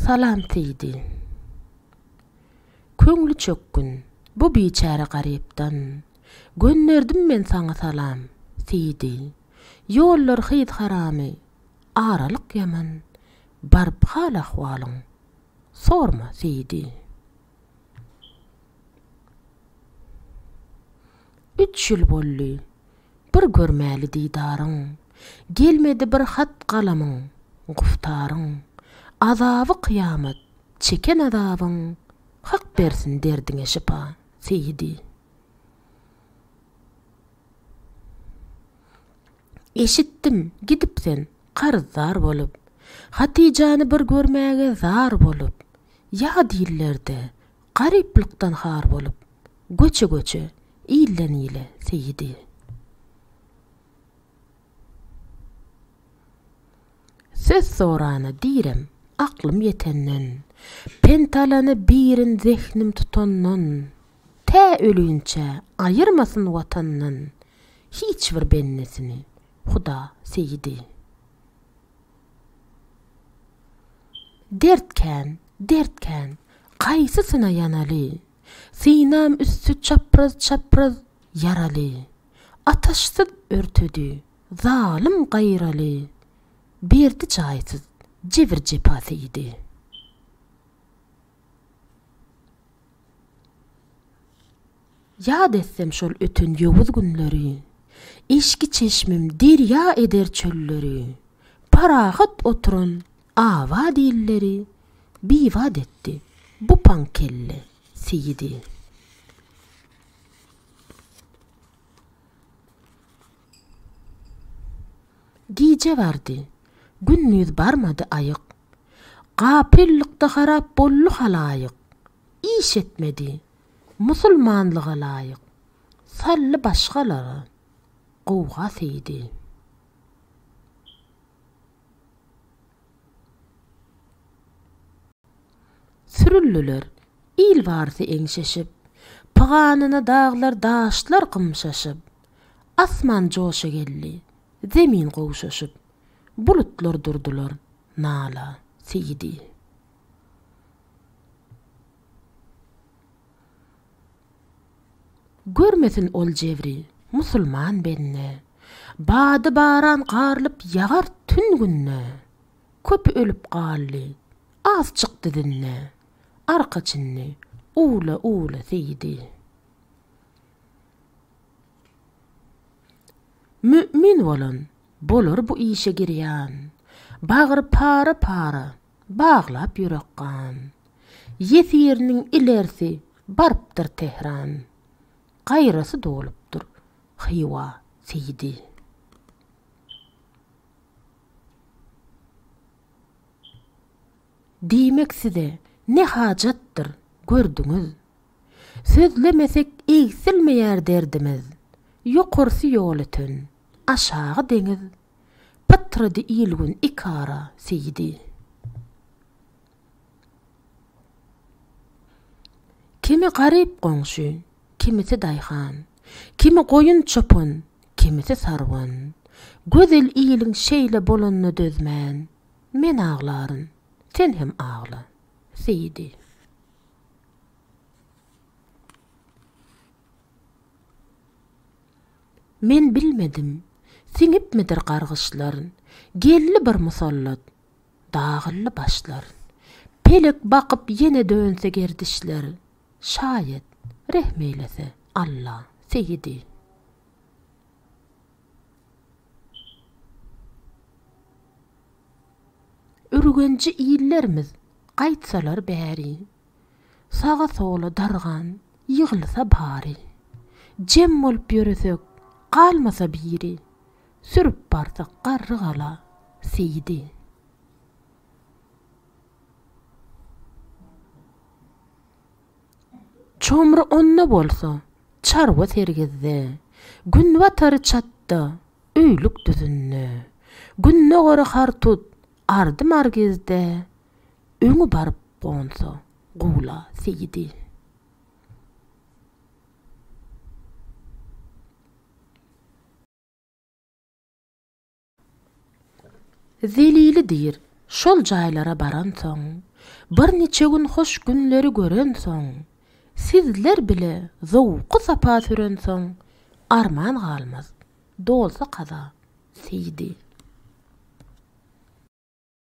Salam Seýdi. Köňli çökgün bu biçäre garypdan. Gönderdim men saňa salam, Seýdi. Ýollar hyz haramy, aralyk ýaman. Baryp hal-ahwalyň sorma, Seýdi. Üç ýyl boldy, bir görmäli didaryň, Gelmedi bir hat-galamyň, guftaryň. Azaby kyýamat, çeken azabyň, Hak bersin derdiňe şypa, Seýidi. Eşitdim, gidip sen, karyzdar bolup, Hatyjany bir görmäge zar bolup. Ýa dillerde, Garyplykdan har bolup, göçe-göçe, ilden-ile seýidi. Söz sorana direm, aklym ýetenden, pent alany birin zehnim tutandan, tä ölinçä aýyrmasyn Watandan hiç bir bendesini Huda seýidi. Dert kän, dert kän, Kaýsysyna ýanaly? Synam üsti çapraz-çapraz ýaraly. Ataşsyz örtedi, zalym gaýraly. Berdi jaýsyz, jebir-jepa seýdi. Ýat etsem şol öten ýowuz günleri, Eşki çeşmim derýa eder çölleri, Parahat oturan abat illeri, Bibat etdi bu paň kelle seýidi. Gije bardy, gündiz barmady aýyk, Gapyllykda harap boldy halaýyk, Iş etmedi, Musulmanlyga laýyk, sally başgalara gowga seýdi. Sürüldiler, il barysy eňşeşip, pyganyna daglar, daşlar gymşaşyp, asman joşa geldi, zemin gowşaşyp, bulutlar durdylar nala seýdi. Görmesin ol jebri, musulman bende. Bady baran garlyp ýagar tün günde. Köpi ölüp galdy, az çykdy dinde. Arka çindi, uwla-uwla seýdi. Mü'min bolan, bolar bu işe girýan. Bagry para-para, baglap ýürek gan. Ýesiriniň ilerisi barypdyr Tehran. Gaýrasy dolupdyr Hywa seýdi. Diýmek size ne hajatdyr, gördüňiz. Sözlemesek egsilmeýär derdimiz. Ýokarsy ýol öten, aşagy deňiz Pytrady il-gün iki ara, Seýdi. Kimi garyp goňşy, kimisi daýhan, Kimi goýun çopan, kimisi sarwan. Gözel iliň şeýle bolanyna dözmän, Men aglaryn, sen hem agla, Seýdi. Men bilmedim, siňipmidir gargyşlaryn, Geldi bir musallat, dagyldy başlaryn. Pelek bakyp ýene dönse gerdişler, Şaýat, rehm eýlese, Alla, Seýidi. Ürgenji illerimiz, gaýtsalar bäri. Saga-sola dargan ýygylsa bary. Jem bolup ýöresek, galmasa biri. Sürüp barsak garrygala Seýidi. Çomry onda bolsa, çarwa sergizde. Günbatary çatda, öýlük düzünde. Gündogary hartut, ardy-margizde. Öňi baryp gonsa gowla seýidi. Zelili diýr, şol jaýlara baransoň, bir niçe gün hoş günleri görensoň, sizler bile zowky-sapa sürensoň, arman galmaz, dolsa kaza seýidi.